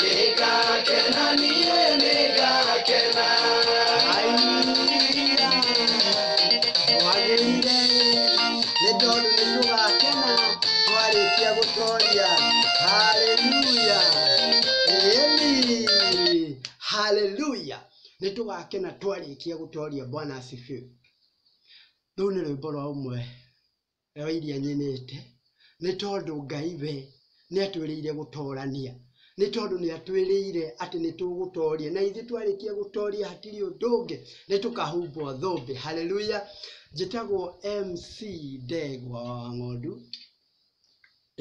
Nĩngakena niĩ nĩngakena. Haleluya. Twagĩrĩire nĩ tondũ nĩ tũgakena twarĩkia gũtoria. Haleluya. Ĩni. Haleluya. Nĩ tũgakena twarĩkia gũtoria. Bwana asifiwe. Rũu nĩ rwĩmbo rwa ũmwe Wa iria nyinĩte, nĩ tondũ Ngai we nĩ atwĩrĩire gũtoorania, nĩ tondũ nĩ atwĩrĩire atĩ nĩ tũgũtooria. Na ithuĩ twarĩkia gũtooria hatirĩ ũndũ ũngĩ, nĩ tũkahumbwo thũmbĩ. Hallelujah! Njĩtagwo MC Ndegwa wa Wang'ondu.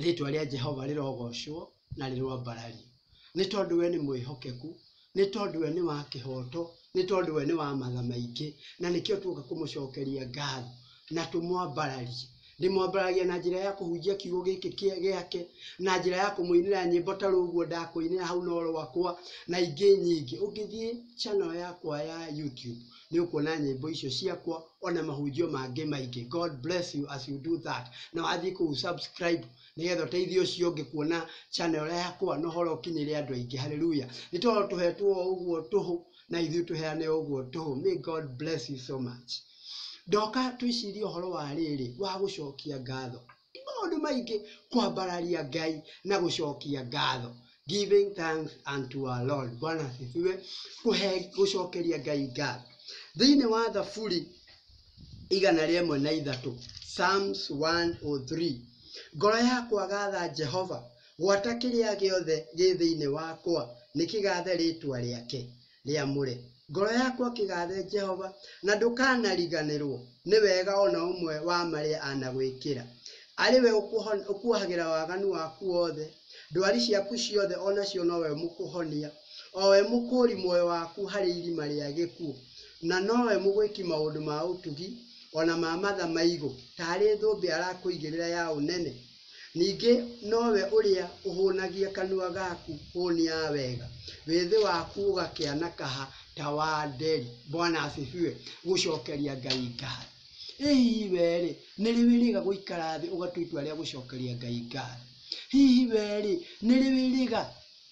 Rĩĩtwa rĩa Jehova rĩrogoocwo na rĩroambarario, nĩ tondũ we nĩ mwĩhokeku, nĩ tondũ we nĩ wa kĩhooto, nĩ tondũ we nĩ wa matha maingĩ, na nĩkĩo tuoka kũmũcookeria ngaatho na tũmwambararie. Ndĩmwambararagia na njĩra ya kũhunjia kiugo gĩkĩ gĩake, na njĩra ya kũmũinĩra nyĩmbo ta rũu ũguo ndakũinĩra hau no rwakwa, na ingĩ nyingĩ. Ũngĩthiĩ channel yakwa ya YouTube, nĩ ũkuona nyĩmbo icio ciakwa ona mahunjio mangĩ maingĩ god bless you as you do that na wathiĩ kũu subscribe nĩgetha ũteithie ũcio ũngĩ kuona channel yakwa na ũhoro ũkinyĩre andũ aingĩ haleluya nĩ tondũ tũhetwo o ũguo tũhũ na ithuĩ tũheane o ũguo tũhũ may god bless you so much ndoka twĩcirie ũhoro wa rĩrĩ wa gũcokia ngatho Nĩ maũndũ maingĩ kwambararia Ngai na gũcokia ngatho, giving thanks unto our Lord, Bwana asifiwe, kũhe gũcokeria Ngai ngatho. Thĩinĩ wa Thaburi igana rĩa ĩmwe na ithatũ, Psalms 103, ngoro yakwa gatha Jehova, gwata kĩrĩa gĩothe gĩ thĩinĩ wakwa nĩkĩgathe rĩĩtwa rĩake. rĩamũre. Ngoro yaku akĩgathe Jehova, na ndũkanariganĩrwo nĩ wega o na ũmwe wa marĩa anagwĩkĩra. Arĩ we ũkuohagĩra waganu waku wothe, ndwari ciaku ciothe o nacio no we ũmũkũhonia, o we mũkũũri muoyo waku harĩ irima rĩa gĩkuũ, na no we mũgwĩki maũndũ ma ũtugi, o na ma matha maigũ, taarĩ thũmbĩ arakũigĩrĩra ya ũnene, Ningĩ nowe ũrĩa ũhũnagia kanua gaku hũnia wega, wĩthĩ waku ũgakĩana kaha ta wa nderi. Bwana asifiwe. Gũcokeria Ngai ngatho. Ĩ hihi wee-rĩ, nĩ rĩ wĩrĩga gũikara thĩ ũgatua itua rĩa gũcokeria Ngai ngatho? Hihi wee-rĩ, nĩ rĩ wĩrĩga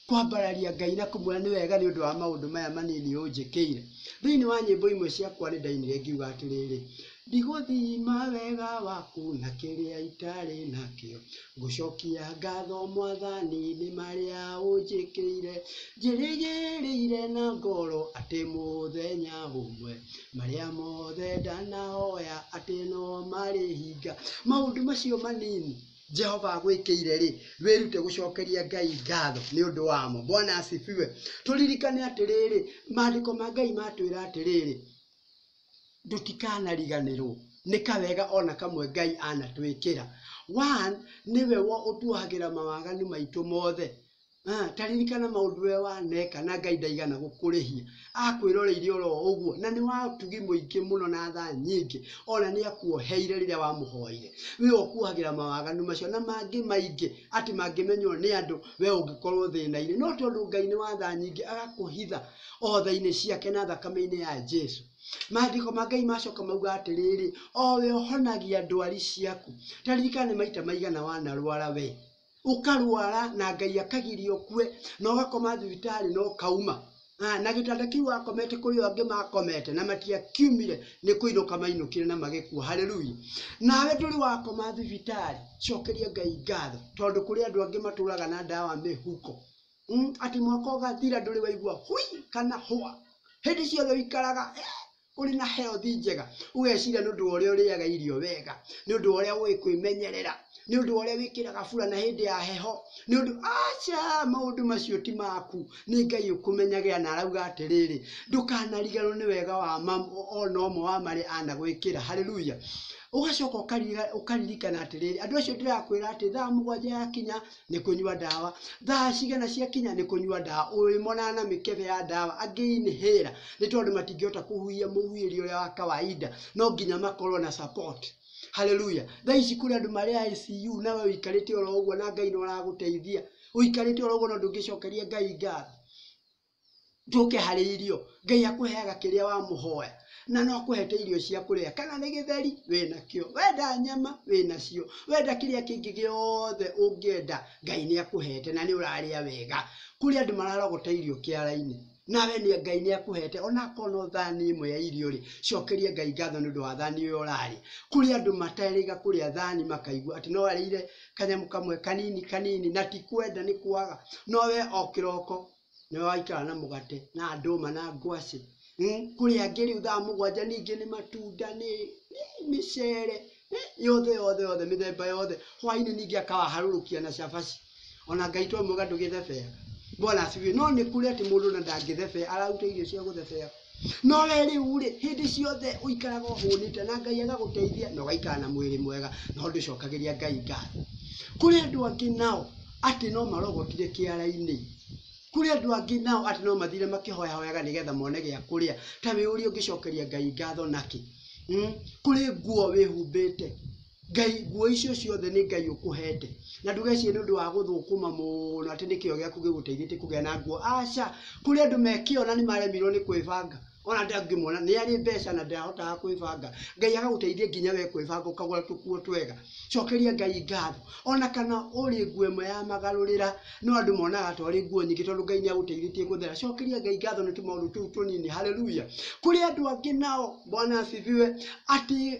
Kwambararia Ngai na kũmwĩra nĩ wega nĩ ũndũ wa maũndũ maya manini ũnjĩkĩire. Thĩinĩ wa nyĩmbo imwe ciakwa nĩ ndainire ngiuga atĩrĩrĩ, Ndigũthima wega waku na kĩrĩa itarĩ nakĩo, Ngũcokia ngatho Mwathani nĩ marĩa ũnjĩkĩire, Njĩrĩgĩrĩire na ngoro atĩ mũthenya ũmwe, Marĩa mothe ndanahoya atĩ no marĩhinga. Maũndũ macio manini. jehova agwĩkĩire rĩ wĩrute gũcokeria ngai ngatho nĩ ũndũ wamo bwana asifiwe tũririkane atĩrĩrĩ maandĩko ma ngai matwĩra atĩrĩrĩ tũtikanariganĩrwo nĩ kawega ona kamwe ngai anatwĩkĩra one nĩwe wo ũtuohagĩra mawaganu maitũ mothe Ah, ta ririkana maũndũ we waneka na ngai ndaigana gũkũrĩhia akwĩroreire oro ũguo na nĩ watugi mũingĩ mũno na tha nyingĩ ona nĩ akuoheire rĩrĩa wamũhoire we ũkuohagĩra mawaganu macio na mangĩ maingĩ atĩ mangĩmenywo nĩ andũ we ũngĩkorwo thĩna-inĩ no tondũ ngai nĩ wa tha nyingĩ agakũhitha o tha-inĩ ciake na thakame-inĩ ya jesu maandĩko ma ngai macoka mauga atĩrĩrĩ o we ũhonagia ndwari ciaku ta ririkana nĩ maita maigana wanarwara we ũkarwara na Ngai akagiria ũkue na ũgakoma thibitarĩ na ũkauma Ah, na gĩtanda kĩu wakomete kũrĩ angĩ makomete na matiakiumire nĩ kũinũka mainũkire na magĩkua haleluya nawe ndũrĩ wakoma thibitarĩ cokeria ngai ngatho tondũ kũrĩ andũ angĩ matũraga na ndawa mĩhuko mm, atĩ mwaka ũgathira ndũrĩ waigua hui kana hwa hĩndĩ ciothe ũikaraga eh, ũrĩ na health njega ũgeciria nĩ ũndũ wa ũrĩa ũrĩaga irio wega nĩ ũndũ wa ũrĩa ũĩ kwĩmenyerera nĩ ũndũ wa ũrĩa wĩkĩraga burana hĩndĩ ya heho nĩ ũndũ aca maũndũ macio ti maku nĩ ngai ũkũmenyagĩra na arauga atĩrĩrĩ ndũkanariganwo nĩ wega wa mam- o- ona ũmwe wa marĩa anagwĩkĩra haleluya ũgacoka ũkarira- ũkaririkana atĩrĩrĩ andũ acio ndĩrakwĩra atĩ thaa mũgwanja yakinya nĩ kũnyua ndawa, thaa cigana ciakinya nĩ kũnyua ndawa, ũyũ monana na mĩkebe ya ndawa, angĩ inhaler nĩ tondũ matingĩhota kũhuhia mũhuhĩri ũrĩa wa kawaida, no nginya makorwo na support. Haleluya! Thaa ici kũrĩ andũ marĩ ICU na we ũikarĩte oro ũguo na Ngai nĩ ũragũteithia, ũikarĩte oro ũguo na ndũngĩcokeria Ngai ngatho. njũke harĩ irio ngai akũheaga kĩrĩa wamũhoya na no akũhete irio cia kũrĩa kana nĩ gĩtheri wĩnakĩo wenda nyama wĩnacio wenda kĩrĩa kĩngĩ gĩothe ũngĩenda ngai nĩ akũhete na nĩ ũrarĩa wega kũrĩ andũ mararogota irio kĩara-inĩ nawe nĩ ngai nĩ akũhete ona akorwo no thani ĩmwe ya irio rĩ cokeria ngai ngatho nĩ ũndũ wa thani ũyũ ũrarĩa kũrĩ andũ materĩga kũrĩa thani makaigua atĩ no arĩire kanyamũ kamwe kanini kanini na ti kwenda nĩ kwaga no we o kĩroko nĩwe waikara na mũgate na ndũma na ngwacĩ Hmm, kũrĩa ngĩrĩu thaa mũgwanja ningĩ nĩ matunda nĩ nĩ mĩcere nĩ yothe yothe yothe mĩthemba yothe hwainĩ ningĩ akawaharũrũkia na cabaci ona ngai to mwega ndũgĩthebea bwana asifiwe no nĩ kũrĩ atĩ mũndũ na ndangĩthebea araruta irio cia gũthebea No we rĩu rĩ, hĩndĩ ciothe ũikaraga ũhũnĩte na Ngai agagũteithia na ũgaikara na mwĩrĩ mwega no ndũcokagĩria Ngai ngatho. Kũrĩ andũ angĩ nao atĩ no marogotire kĩara-inĩ, kũrĩ andũ angĩ nao atĩ no mathire makĩhoyahoyaga nĩgetha mone gĩa kũrĩa, ta wĩyũrie ũngĩcokeria Ngai ngatho nakĩ? Hmm? Kũrĩ nguo wĩhumbĩte, Ngai, nguo icio ciothe nĩ Ngai ũkũhete. Na ndũgecirie nĩ ũndũ wa gũthũkũma mũno atĩ nĩ kĩyo gĩaku gĩgũteithĩtie kũgĩa na nguo. Aca, kũrĩ andũ me kĩyo na nĩ maremirwo nĩ kwĩbanga. Ona ndangĩmwona nĩ arĩ mbeca na ndahotaga kwĩbanga. Ngai agagũteithia nginya we kwĩbanga ũkagũra tũkuo twega. Cokeria Ngai ngatho. Ona kana ũrĩ nguo ĩmwe ya magarũrĩra, no andũ monaga ta ũrĩ nguo nyingĩ tondũ Ngai nĩ agũteithĩtie gũthera. Cokeria Ngai ngatho nĩ tũmaũndũ tũu tũnini. Haleluya! Kũrĩ andũ angĩ nao, Bwana asifiwe, atĩ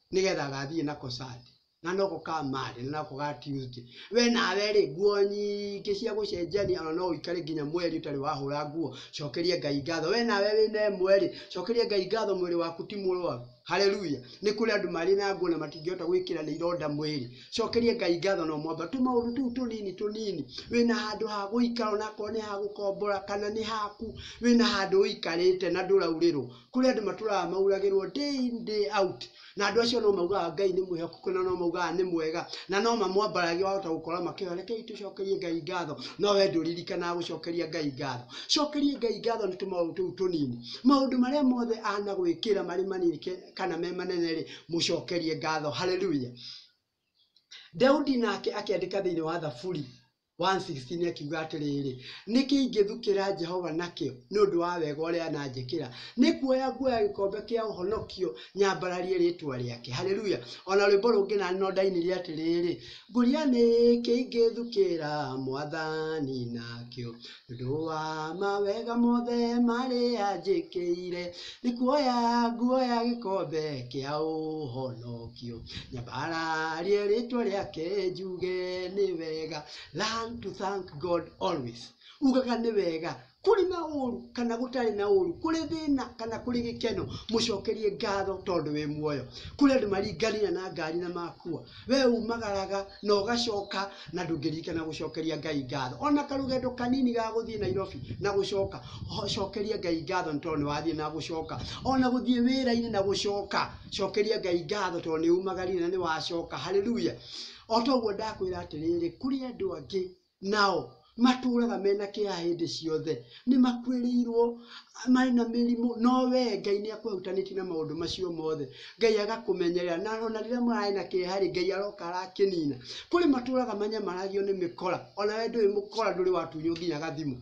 nĩgetha gathiĩ nako cati na noko ka mari na nako ga Tuesday we nawe rĩ nguo nyingĩ cia gũcenjania ona no ũikare nginya mweri ũtarĩ wahũra nguo cokeria Ngai ngatho we nawe wĩna ĩmwe rĩ cokeria Ngai ngatho mwĩrĩ waku ti mũrwaru haleluya nĩ kũrĩ andũ marĩ na nguo na matingĩhota gwĩkĩra nĩ ironda mwĩrĩ cokeria Ngai ngatho no mwamba tũmaũndũ tũu tũnini tũnini wĩna handũ ha gũikara onakorwo nĩ ha gũkombora kana nĩ haku wĩna handũ ũikarĩte na ndũraurĩrwo kũrĩ andũ matũraga mauragĩrwo day in day out, na andũ acio no maugaga Ngai nĩ mwĩhokeku na no maugaga nĩ mwega, na no mamwambararia wahota gũkora makĩhoya rekei tũcokerie Ngai ngatho, no wee ndũririkanaga gũcokeria Ngai ngatho. Cokeria Ngai ngatho nĩ tũmaũndũ tũu tũnini. Maũndũ marĩa mothe anagwĩkĩra marĩ manini kana me manene-rĩ, mũcokerie ngatho. Hallelujah. Daudi nake akĩandĩka thĩinĩ wa Thaburi, 1:16 akiuga atĩrĩrĩ, nĩkĩ ingĩthukĩra Jehova nakĩo nĩ ũndũ wa wega ũrĩa ananjĩkĩra? Nĩ kuoya nguoya gĩkombe kĩa ũhonokio nyambararie rĩtwa rĩake. Haleluya! O na rwĩmbo rũngĩ na no ndainire atĩrĩrĩ, ngũria nĩkĩ ingĩthukĩra mwathani nakĩo Ndũa mawega mothe marĩa njĩkĩire, nĩkuoya nguoya gĩkombe kĩa ũhonokio, nyambararie rĩtwa rĩake njuge nĩ wega, learn to thank God always, ugaga nĩ wega kũrĩ na ũru kana gũtarĩ na ũru, kũrĩ thĩna kana kũrĩ gĩkeno, mũcokerie ngatho tondũ wĩ muoyo. Kũrĩ andũ maringania na ngari na makua. We umagaraga na ũgacoka na ndũngĩririkana gũcokeria Ngai ngatho. Ona karũgendo kanini ga gũthiĩ Nairobi na gũcoka, ho- cokeria Ngai ngatho nĩ tondũ nĩwathiĩ na gũcoka. Ona gũthiĩ wĩra-inĩ na gũcoka, cokeria Ngai ngatho tondũ nĩumagarire na nĩwacoka. Hallelujah. O ta ũguo ndakwĩra atĩrĩrĩ, kũrĩ andũ angĩ Nao matũũraga me na kĩeha hĩndĩ ciothe. Nĩ makuĩrĩirũo, marĩ na mĩrimũ, no wee Ngai nĩ akũhutanĩtie na maũndũ macio mothe. Ngai agakũmenyerera, na o na rĩrĩa mararĩ na kĩeha-rĩ, Ngai aroka arakĩnina. Kũrĩ matũũraga manyamaragio nĩ mĩkora, o na wee ndũrĩ mũkora, ndũrĩ watunywo nginya gathimu.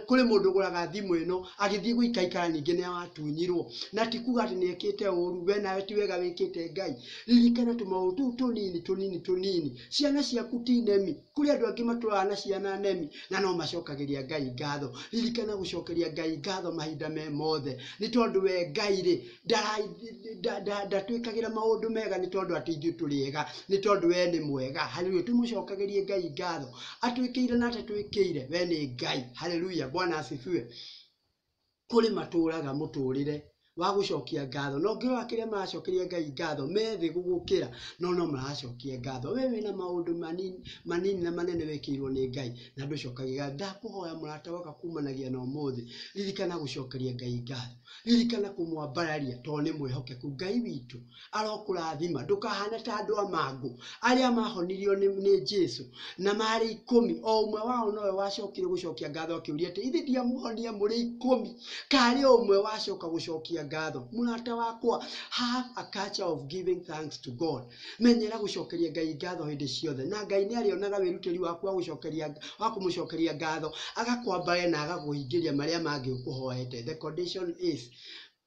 Kũrĩ mũndũ ũgũraga thimũ ĩno, agĩthiĩ gũikaikara ningĩ nĩ atunyirwo. Na ti kuga atĩ nĩ ekĩte ũru, we nawe ti wega wĩkĩte Ngai. Ririkana tũmaũndũ tũu tũnini tũnini tũnini. Ciana ciaku ti nemi. Kũrĩ andũ angĩ matũraga na ciana nemi, na no macokagĩria Ngai ngatho. Ririkana gũcokeria Ngai ngatho mahinda me mothe. Nĩ tondũ we Ngai-rĩ, ndatwĩkagĩra maũndũ mega nĩ tondũ atĩ ithuĩ tũrĩ ega, nĩ tondũ we nĩ mwega. Haleluya! Tũmũcokagĩrie Ngai ngatho atwĩkĩire na atatwĩkĩire, we nĩ Ngai. Haleluya! Bwana asifiwe. Kũrĩ matũũraga mũtũũrĩre wa gũcokia ngatho, na ũngĩrora kĩrĩa maracokeria Ngai ngatho, me thĩ gũgũkĩra, no no maracokia ngatho. We wĩna maũndũ manini manini na manene wĩkĩirwo nĩ Ngai na ndũcokagia ngatho. Ndakũhoya mũrata waka kumanagia na ũmũthĩ, ririkana gũcokeria Ngai ngatho. Ririkana kũmwambararia tondũ nĩ mwĩhokeku. Ngai witũ arokũrathima. Ndũkahane ta andũ a mangũ arĩa mahonirio nĩ, nĩ Jesu na marĩ ikũmi. O ũmwe wao nowe wacokire gũcokia ngatho akĩũria atĩ ithe ndiamuhonia mũrĩ ikũmi? Karĩ o ũmwe wacoka gũcokia ngatho. Mũrata wakwa, have a culture of giving thanks to God. menyera gũcokeria ngai ngatho hĩndĩ ciothe na ngai nĩ arĩonaga wĩrutĩri waku wa gũcokeria wa kũmũcokeria ngatho agakwambare na agakũhingĩria marĩa mangĩ ũkũhoete the condition is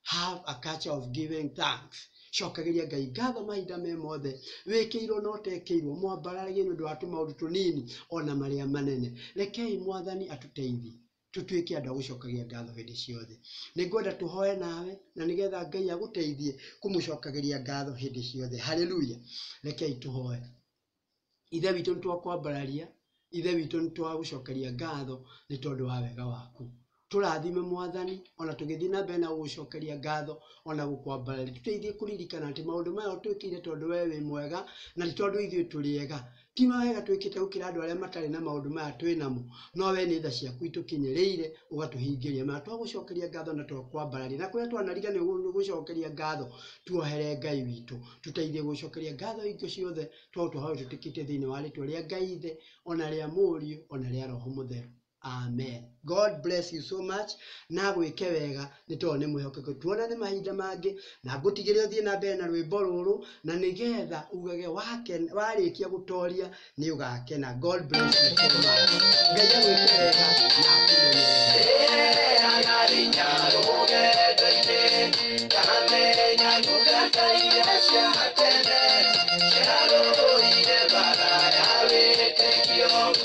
have a culture of giving thanks cokagĩria ngai ngatho mahinda me mothe wĩkĩirwo na ũtekĩirwo mwambararagie nĩ ũndũ wa tũmaũndũ tũnini ona marĩa manene rekei mwathani atũteithie tũtuĩke andũ a gũcokagia ngatho hĩndĩ ciothe. Nĩ ngwenda tũhoe nawe na nĩgetha Ngai agũteithie kũmũcokagĩria ngatho hĩndĩ ciothe. Haleluya! Rekei tũhoe. Ithe witũ nĩ twakwambararia, Ithe witũ nĩ twagũcokeria ngatho nĩ tondũ wa wega waku. Tũrathime Mwathani, ona tũgĩthiĩ na mbere na gũgũcokeria ngatho, ona gũkwambararia. Tũteithie kũririkana atĩ maũndũ maya ũtwĩkĩire tondũ we wĩ mwega, na ti tondũ ithuĩ tũrĩ ega. Ti mawega twĩkĩte gũkĩra andũ arĩa matarĩ na maũndũ maya twĩ namo, no we nĩ tha ciaku itũkinyĩrĩire ũgatũhingĩria. Mana twagũcokeria ngatho na twakwambararia, na kũrĩa twanariga nĩ gũcokeria ngatho, tuohere Ngai witũ. Tũteithie gũcokeria ngatho hingo ciothe, twaũtũhoya ũtwĩtĩkĩtie thĩinĩ wa rĩtwa rĩa Ngai Ithe, ona rĩa Mũriũ, ona rĩa Roho Mũtheru. Amen. God bless you so much. Na gwĩke wega nĩ tondũ nĩ mwĩhokeku. Tuonane mahinda mangĩ na ngũtigĩre ũthiĩ na mbere na rwĩmbo rũrũ na nĩgetha ugage wake- warĩkia gũtoria nĩ ũgakena. God bless you so much. Ngai agwĩke wega na akũmenyerere. Thank you.